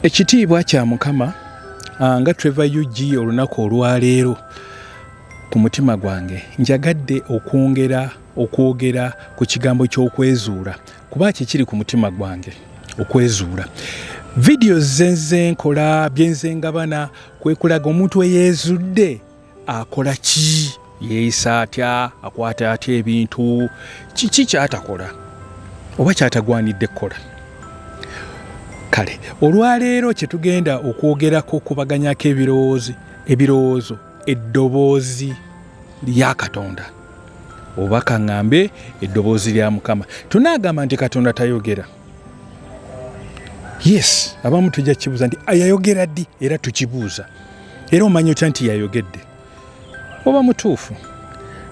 Ekitiibwa kya Mukama ah, nga Trevor UG olunaku olwaleero ku mutima gwange njagadde okwongera okwogera ku kigambo ky'okwezuula kuba kikiri ku mutima gwange okwezuula vidiyo zenze nkola byenze ngabana kwekulaga omuntu eyeezudde akola ki yeeyisa atya akwata atya ebintu kiki kyatakola oba kyatagwanidde kukola kale olwaleero kyetugenda okwogerako okubaganyako ebirowoozi ebirowoozo eddoboozi lya katonda oba kaŋŋambe eddoboozi lya mukama tunaagamba nti katonda tayogera yes abamu tujja kibuuza nti yayogera ddi era tukibuuza era omanya otya nti yayogedde oba mutuufu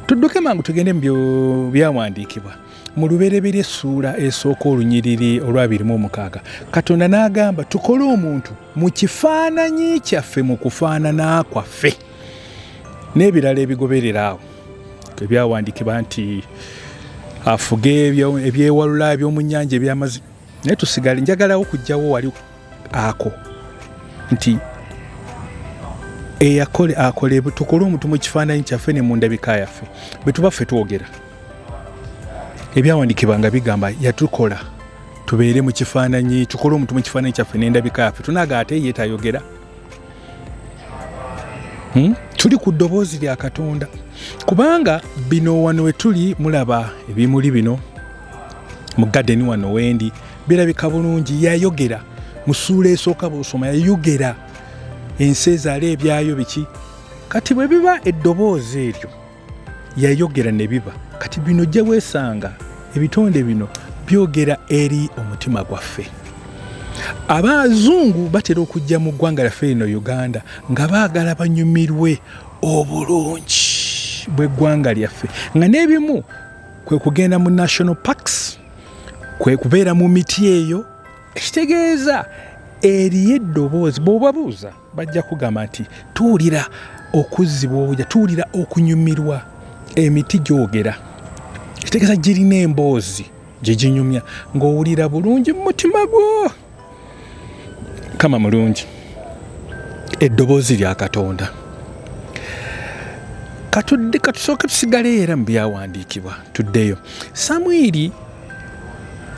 tudduke mangu tugende mu byawandiikibwa mu lubereberye essuula esooka olunyiriri olwabirimu omukaaga katonda n'agamba tukole omuntu mu kifaananyi kyaffe mu kufaanana kwaffe n'ebirala ebigoberera awo ebyawandiikibwa nti afuge ebyewalula ebyomunyanja ebyamazi naye tusigale njagalawo kujjawo wali ako nti eyakole akole tukole omuntu mu kifaananyi kyaffe ne mu ndabika yaffe bwe tuba ffe twogera ebyawandiikibwa nga bigamba yatukola tubeere mu kifaananyi tukole omuntu mu kifaananyi kyaffe n'endabika yaffe tunaga ate ye tayogera hmm? tuli ku ddoboozi lya katonda kubanga bino wano we tuli mulaba ebimuli bino mu gadeni wano wendi birabika bulungi yayogera mu ssuula esooka bwosoma yayogera ensi ezaala ebyayo biki kati bwe biba eddoboozi eryo yayogera ne biba kati bino gye weesanga ebitonde bino byogera eri omutima gwaffe abazungu batera okujja mu ggwanga lyaffe lino uganda nga baagala banyumirwe obulungi bw'eggwanga lyaffe nga n'ebimu kwe kugenda mu national parks kwe kubeera mu miti eyo ekitegeeza eriyo eddoboozi bwobabuuza bajja kugamba nti tuwulira okuzzibwa obuja tuwulira okunyumirwa emiti gyogera kitegeeza girina emboozi gye ginyumya ng'owulira bulungi mu mutima gwo kama mulungi eddoboozi lya katonda katudde katusooke tusigaleyo era mu byawandiikibwa tuddeyo samwiri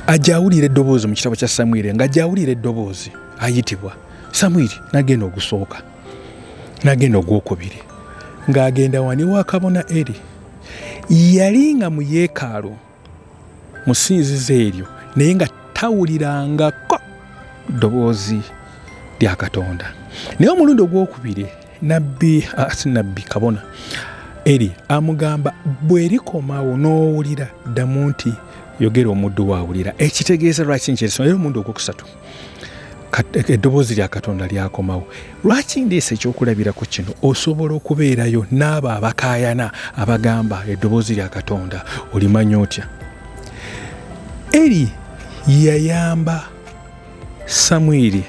ajawulira eddoboozi mu kitabo kya samwiri nga ajawulira eddoboozi ayitibwa samwiri nagenda ogusooka nagenda ogwokubiri ng'agenda wani wa kabona eri yali nga mu yeekaalu musinzizo eryo naye nga tawulirangako ddoboozi lya katonda naye omulundi ogwokubiri nabbi asi nabbi kabona eri amugamba bwerikomawo n'owulira ddamu nti yogera omuddu waawulira ekitegeeza lwaki nkyesoma era omulundi ogwokusatu eddoboozi lya katonda lyakomawo lwaki ndiisa ekyokulabirako kino osobola okubeerayo n'abo abakayana abagamba eddoboozi lya katonda olimanya otya eri yayamba samwiri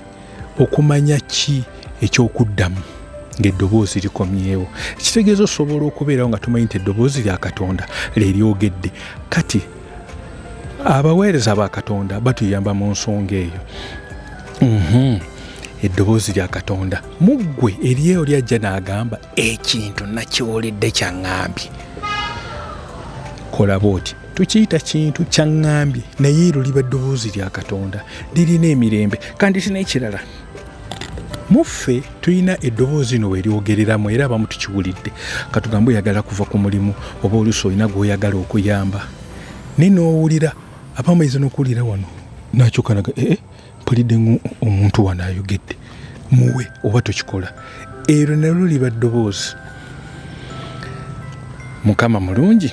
okumanya ki ekyokuddamu ng'eddoboozi likomyewo kitegeeza osobola okubeerawo nga tumanyi nti eddoboozi lya katonda leryogedde kati abaweereza ba katonda batuyamba mu nsonga eyo mhm. eddoboozi lya katonda mu ggwe eryeyo lyajja n'agamba ekintu nakyoledde kyaŋambye kola bwoti tukiyita kintu kyaŋŋambye naye ero liba ddoboozi lya katonda lirina emirembe kandi tina ekirala mu ffe tulina eddoboozi ino weryogereramu era abamu tukiwulidde katugambe oyagala kuva ku mulimu oba oluusi olina gweoyagala okuyamba naye nowulira abamu ayinza nokuwulira wano nakyokanaga ee eh, eh, mpulidde nga omuntu wano ayogedde muwe oba tokikola eryo nalwo liba ddoboozi mukama mulungi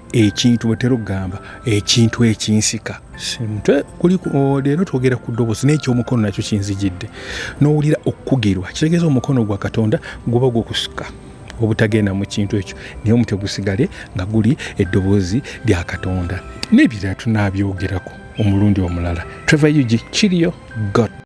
ekintu bwetera okugamba ekintu ekinsika mutwe kuliko oh, leero twogera ku ddobozi n'ekyomukono nakyo kinzijidde n'owulira okukugirwa kitegeeza omukono gwa katonda guba gukusika obutagenda mu kintu ekyo naye omutwe gusigale nga guli eddoboozi lya katonda n'ebirala tunabyogerako omulundi omulala trevor ug kiriyo got